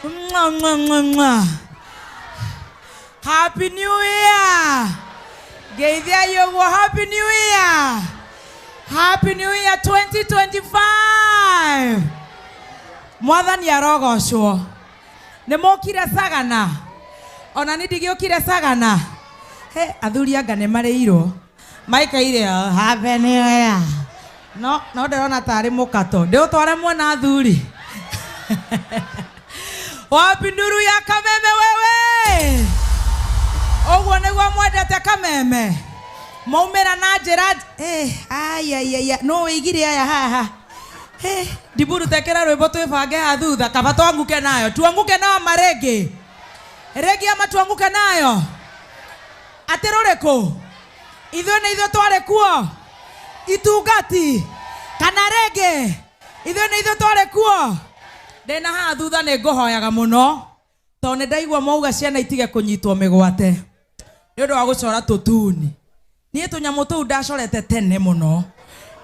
Mwah, mwah, mwah, mwah. Happy New Year! Geithia yogo Happy New Year! Happy New Year 2025! Mwathani arogocwo. Nĩ mũkire sagana. Ona nĩ ndigĩũkire sagana. He athuri anga nĩ marĩirwo. maikaire ho habe nĩoya no no ndĩrona tarĩ mũkato ndĩũtware muona athuri wapi nduru ya kameme wewe ũguo nĩguo mwendete kameme maumĩra na njĩra Eh, ayayaya no wĩigire aya haha Eh, ndiburu tekera rwĩmbo twĩbange ha thutha kaba twanguke nayo tuanguke nayo marĩngĩ rĩngĩ ama tuanguke nayo Atĩ rũrĩkũ? Ithuĩ nĩ ithuĩ twarĩ kuo? Itungati? Kana rĩngĩ, Ithuĩ nĩ ithuĩ twarĩ kuo? Ndĩ na haha thutha nĩ ngũhoyaga mũno, tondũ nĩ ndaigua mwauga ciana itige kũnyitwo mĩgwate nĩ ũndũ wa gũcora tũtuni. Niĩ tũnyamũ tũu ndacorete tene mũno,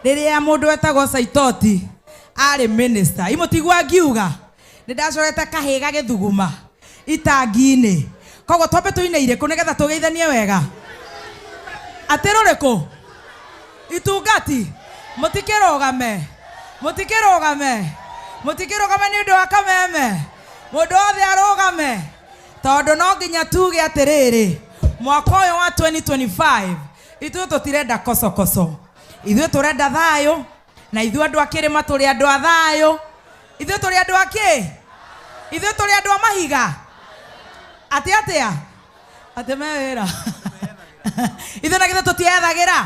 rĩrĩa mũndũ wetagwo Saitoti arĩ mĩnĩsta. Ĩ mũtigua ngiuga? Nĩ ndacorete kahĩĩ gagĩthuguma itangi-inĩ. Koguo twambe tũine irĩkũ nĩgetha tũgeithanie wega? Atĩ rũrĩkũ? Itungati. Mũtikĩrũgame. Mũtikĩrũgame. Mũtikĩrũgame nĩ ũndũ wa kameme. Mũndũ wothe arũgame. Tondũ no nginya tuge atĩrĩrĩ, mwaka ũyũ wa 2025 ithuĩ tũtirenda kocokoco. Ithuĩ tũrenda thayũ. na ithuĩ andũ a kĩrĩma tũrĩ andũ a thayũ ithuĩ tũrĩ andũ a kĩ ithuĩ tũrĩ andũ a mahiga atĩ atĩa atĩ me wĩra ithuĩ na githĩ tũtiethagĩra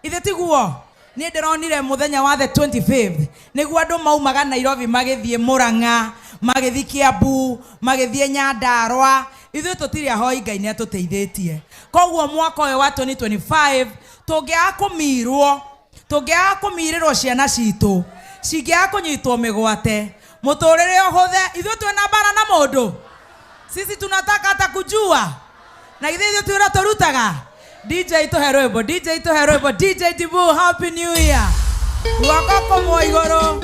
ithe tiguo nä ndä ronire må thenya wa the 25th nä guo andå maumaga nairobi magä thiä må rang'a magä thiä kä ambu magä thiä nyandarwa ithuä tå tirä ahoi ngai nä atå teithä tie koguo mwaka å yå wa 2025 tå ngä aga kå mirwo Tũngĩaga kũmiirĩrwo ciana ciitũ cingĩaga kũnyitwo mĩgwate. Mũtũũrĩre ũhũthe. Ithuĩ twĩ na mbaara na mũndũ? Sisi tunataka hata kujua? Na githĩ ithuĩ ti wĩra tũrutaga? DJ tũhe rwĩmbo, DJ tũhe rwĩmbo, DJ Dibuu, Happy New Year! Guoko kũmwe igũrũ.